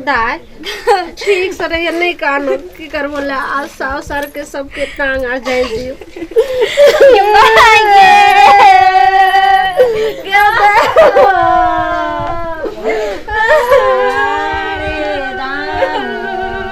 दाय ठीक से रहिए नहीं कानो की करबो ले आ साउ सर के सबके टांग आ जाए दियो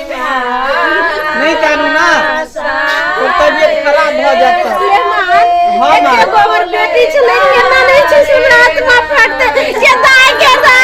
नहीं कानू ना और तबियत खराब भ जात तो हां मां गोबर बेटी छ नहीं केना नहीं छ हमरा आत्मा फटते ये दाय के दा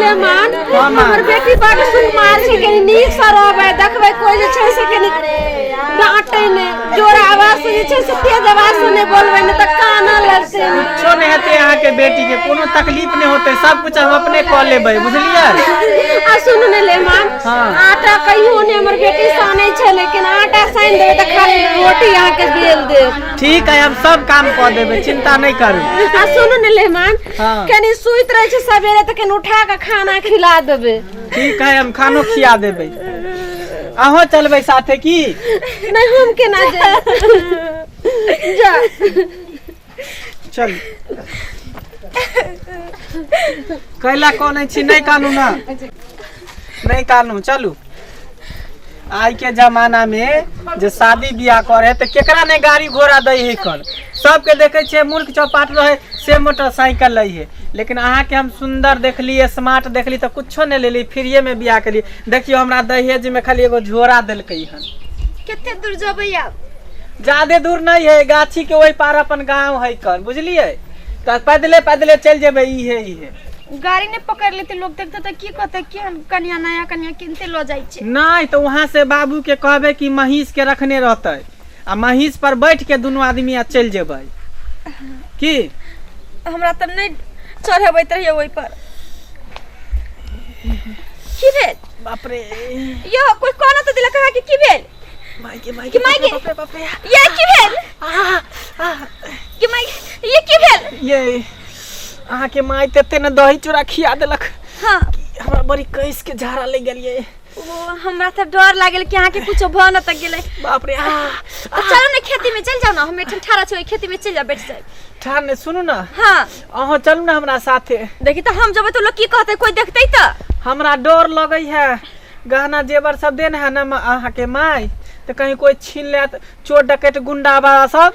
ले मान हमर बेटी बड़ सुन मार छै के नीक सा रहबे देखबे कोई जे छै से के नी डांटे ने जोर आवाज से जे छै से तेज आवाज से नहि बोलबै ने तऽ काना लगतै कुछो नहि हेतै अहाँके बेटी के कोनो तकलीफ नहि होतै सब कुछ हम अपने कऽ लेबै बुझलियै आ सुन ने ले मान हाँ। आटा कहियो ने हमर बेटी सानै छै लेकिन आटा सानि देबै तऽ खाली रोटी अहाँके बेल देब ठीक है हम सब काम कऽ देबै चिंता नहि करू आ सुन ने ले मान हाँ। कनी सुति रहै छै सबेरे तऽ कनी उठा कऽ खाना खिला देबै ठीक है हम खानो खिया देबै अहूँ चलबै साथे की नहीं हम केना जाए जा चल कैला कौन छी नहीं कानू ना नहीं कानू चलू आइ के जमाना में जे शादी बियाह करे तो केकरा ने गाड़ी घोड़ा दे है कल सबके देखे छे मूर्ख चौपाट रहे से मोटरसाइकिल लई है लेकिन अहाँ के हम सुंदर देखली स्मार्ट देखली तो कुछो ने लेली फ्रीए में बियाह करी देखियो हमरा दहेज में खाली एगो झोरा देलकई हन कते दूर जबै आब ज्यादे दूर नहीं है गाछी के वही पार अपन गांव है कन बुझलिए तो पैदले पैदले चल जेबे ई है ई है उ गाड़ी ने पकड़ लेते लोग देखते तो की कहते कि हम कन्या नया कन्या किनते लो जाई छे नहीं तो वहाँ से बाबू के कहबे कि महीस के रखने रहते आ महीस पर बैठ के दोनों आदमी आ चल जेबै की हमरा त नहीं चढ़बैत रहिए ओई पर की भेल बाप रे यो कोई कहना तो दिला कहा कि की भेल माई के माई कि माई के- बाप रे बाप रे ये की भेल आ, आ, कि माई ये की भेल ये अहाँ के माय तते ने दही चूड़ा खिया देलक हाँ हमरा बड़ी कैस के झाड़ा ले गेलिए ओ हमरा त डर लागल कि अहाँ के कुछ भ न त गेले बाप रे आ तो चलो ना खेती में चल जाओ ना हम एठन ठाड़ा छोड़ खेती में चल जा बैठ जाए ठान ने सुनू ना हाँ अहाँ चलू ना हमरा साथे देखी तो हम जब तो लोग की कहते कोई देखते तो हमरा डर लगै है गहना जेवर सब देन है ना अहाँ के माय तो कहीं कोई छीन लेत चोर डकैत गुंडा बाबा सब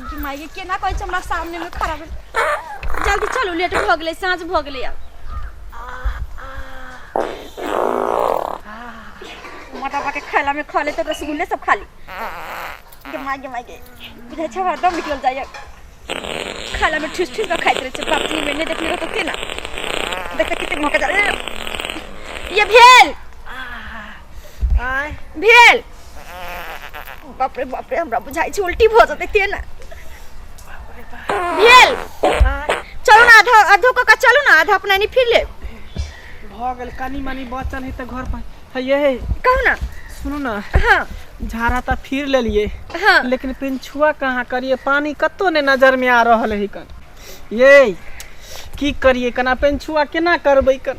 कि माय ये केना कहै छै हमरा सामने में खड़ा भेल जल्दी चलू लेट भऽ गेलै साँझ भऽ गेलै आब मोटा पाके खाइला में खा लेते रसगुल्ले सब खा ली गे माय गे माय गे बुझै छै हरदम निकल जाइए खाइला में ठुस ठुस खाइत रहै छै बाप जी में नहि देखने रहतो केना देखते कते मौका जा ये भेल आय भेल बाप रे बाप रे हमरा बुझाइ छै उल्टी भऽ जेतै ते ने भेल आय चलू ने आधा आधो कऽ कऽ चलू ने आधा अपना नहि फिर लेब भऽ गेल कनी मनी बचल है तऽ घर पर है ये है कहू ने सुनू ना हँ झाड़ा तऽ फिर लेलिए हँ लेकिन पिंछुआ कहाँ करिए पानी कतौ ने नजर में आ रहल है कन ये की करिए कना पिंछुआ केना करबै कन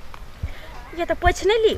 ये तऽ पोछि नहि ली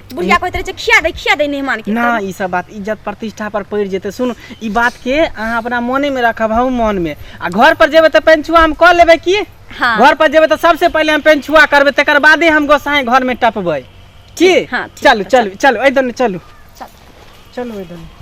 बुढ़िया कहैत रहे छै खिया दे खिया दे मेहमान के ना ई सब बात इज्जत प्रतिष्ठा पर पड़ जेते सुन ई बात के अहाँ अपना मने में रखब हम मन में आ घर पर जेबे त पेंचुआ हम क लेबे की हाँ। घर पर जेबे त सबसे पहले हम पेंचुआ करबे तकर बादे हम गोसाई घर में टपबे की हाँ, ठीक चलू चलू चलू ए दने चलू चलू ए दने